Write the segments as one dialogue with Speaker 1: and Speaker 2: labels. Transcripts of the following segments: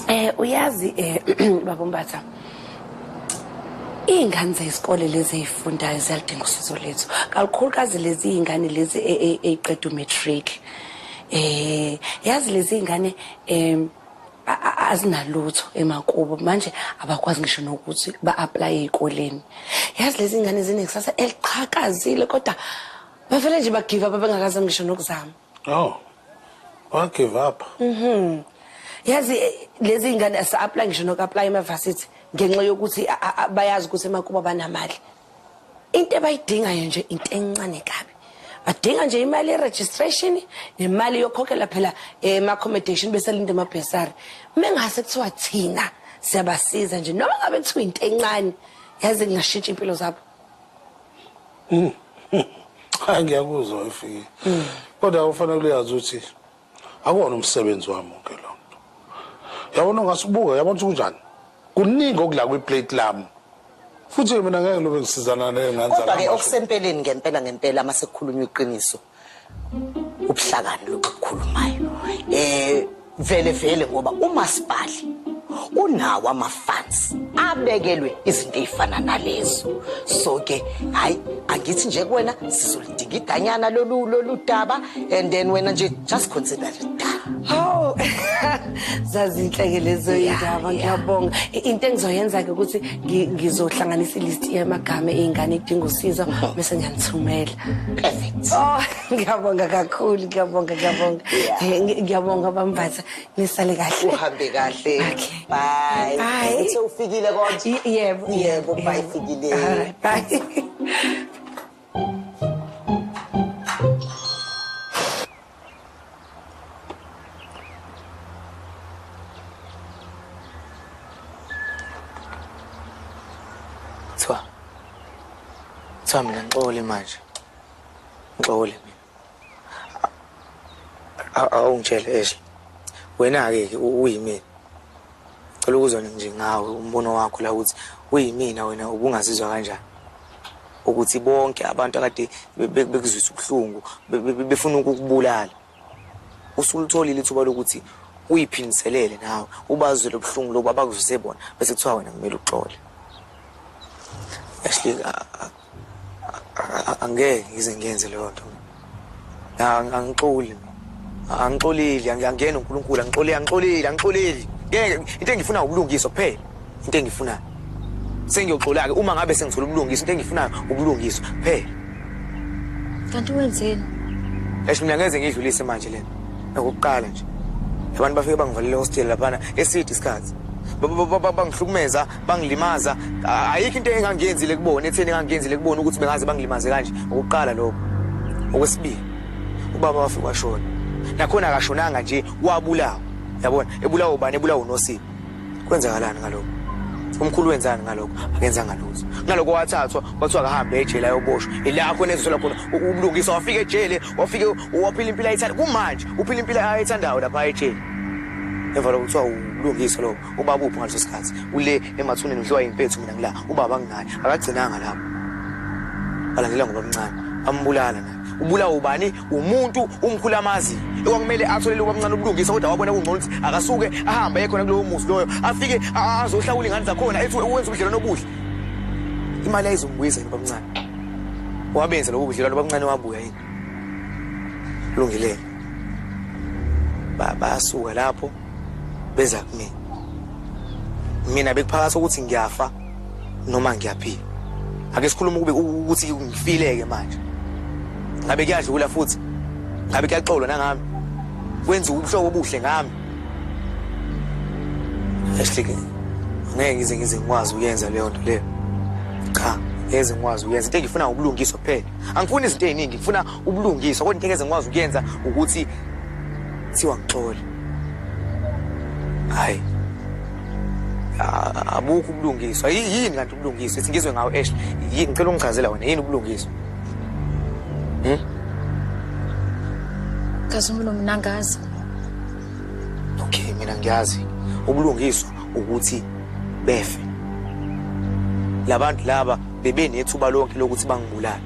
Speaker 1: Eh uyazi eh babombatha iy'ngane zesikole lezi ey'fundayo ziyaludinga usizo lethu kalukhulukazi lezi iy'ngane lezi e, e, ey'qeda umatric um yazi lezi iy'ngane um azinalutho emakubo manje abakwazi ngisho nokuthi ba-aplaye ey'koleni yazi lezi ngane zinekusasa eliqhakazile kodwa bavele nje bagive up abengakaze ngisho nokuzama
Speaker 2: oh wagive up mhm
Speaker 1: yazi eh, lezi ngane asa-aplaya ngisho noku-aplaya emavasithi ngenxa yokuthi bayazi ukuthi emakubo abanamali into ebayidingayo nje into encane kabi badinga nje imali ye-registration nemali yokhokhela phela ema-accommodation besalinde amabhesari mengase kuthiwa thina siyabasiza nje noma ngabe kuthiwa into encane yazi kungashintsha impilo zabo hmm.
Speaker 2: hayi ngiyakuzwa efike kodwa ufanele uyazi ukuthi akuwona umsebenzi wami wonke lo nto yabona ungasubuka yabona ukuthi kunjani kuningi okula kwiplate lami futhi-ke mina ngeke lobe ngisizana kodwa-ke okusempeleni
Speaker 3: ngempela ngempela uma sekukhulunywa iqiniso ubuhlakani lokhu kukhulumayo um eh, vele vele ngoba umasipali unawo amafansi abekelwe izinto ey'fana nalezo so-ke hhayi angithi nje kuwena Dingidanyana lolu lolu daba and then wena nje just consider it done. Hawu.
Speaker 1: Zazinhle ke lezo indaba ngiyabonga. Into engizoyenza ke ukuthi ngizohlanganisa ilist yamagama eingane idinga usizo bese ngiyanithumela. Perfect.
Speaker 3: Oh,
Speaker 1: ngiyabonga kakhulu, ngiyabonga, ngiyabonga. Ngiyabonga bambatha. Nisale kahle. Uhambe kahle.
Speaker 3: Okay. Bye. Bye. Uthe ufikile kodwa? Yebo. Yebo, bye fikile.
Speaker 1: Bye.
Speaker 4: Kuthiwa mina ngixole manje. Ngixole mina. awungitshele Ashley wena-ke ke uyimina cela ukuzwa nje ngawe umbono wakho la ukuthi uyimina wena ubungazizwa kanjani ukuthi bonke abantu akade bekuzwisa ubuhlungu befuna ukukubulala usulutholile ithuba lokuthi uyiphindiselele nawe ubazwe lobuhlungu lobu abakuzwise bona bese kuthiwa wena kumele uxole Ashley angeke ngize ngiyenze leyo nto angixoli angixolile angiyangena uNkulunkulu angixolile angixolile angixolile ngeke into engifuna ubulungiswa kuphela into engifunayo sengiyoxola ke uma ngabe sengithola ubulungiswa into engifunayo ubulungiswa kuphela
Speaker 5: kanti wenzeni eish mina
Speaker 4: ngeze ngidlulise manje lena ukuqala nje abantu bafike bangivalele hostel laphana eside isikhathi bangihlukumeza bangilimaza ayikho into engangiyenzile kubona etheni engangiyenzile kubona ukuthi bengaze bangilimaze kanje ukuqala lokho okwesibili ubaba wafika washona nakhona akashonanga nje wabulawa yabona ebulawa ubani ebulawa unosipho kwenzakalani ngalokho umkhulu wenzani ngalokho akenzanga lutho ngalokho wathathwa kwathiwa akahambe ejele ayoboshwa ilapho enezithola khona ubulungisa wafika ejele wafike waphila impilo ayithanda kumanje uphila impilo ayithandayo lapha ejele emva lokuthiwa ulungisa lokho ubaba uphi ngaleso sikhathi ule emathuneni udliwa yimpethu mina ngila ubaba nginaye akagcinanga lapho alandela ngoba mncane ambulala naye ubulawa ubani umuntu umkhulu amazi okwakumele atholele ubamncane ubulungisa kodwa wabona kungcono ukuthi akasuke ahambe aye khona kulowo muzi loyo afike azohlawula ingane zakhona ethi wenza ubudlelwano obuhle imali ayizombuyisa yini ubamncane wabenza lobo budlelwano ubamncane wabuya yini lungilele bayasuka lapho beza kumina mina bekuphakathi ukuthi ngiyafa noma ngiyaphila ake sikhuluma ukube ukuthi ngifileke manje ngabe kuyadlula futhi ngabe kuyaxolwa nangami kwenza ubuhlobo obuhle ngami ehlike ngeke ngize ngize ngikwazi ukuyenza leyo nto leyo cha ngeze ngikwazi ukuyenza into engifuna ukulungiswa kuphela angifuni izinto eziningi ngifuna ubulungiswa kodwa into engeze ngikwazi ukuyenza ukuthi kuthiwa ngixole hayi abukho ubulungiswa yini kanti ubulungiswa ethi ngizwe ngawo esh yini ngicela ungichazela wena yini ubulungiswa hmm?
Speaker 5: kazumulo mina ngazi
Speaker 4: okay mina ngiyazi ubulungiswa ukuthi befe labantu laba bebenethuba lonke lokuthi bangibulale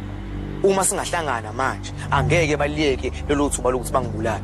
Speaker 4: Uma singahlangana manje angeke baliyeke lelo thuba lokuthi bangibulale.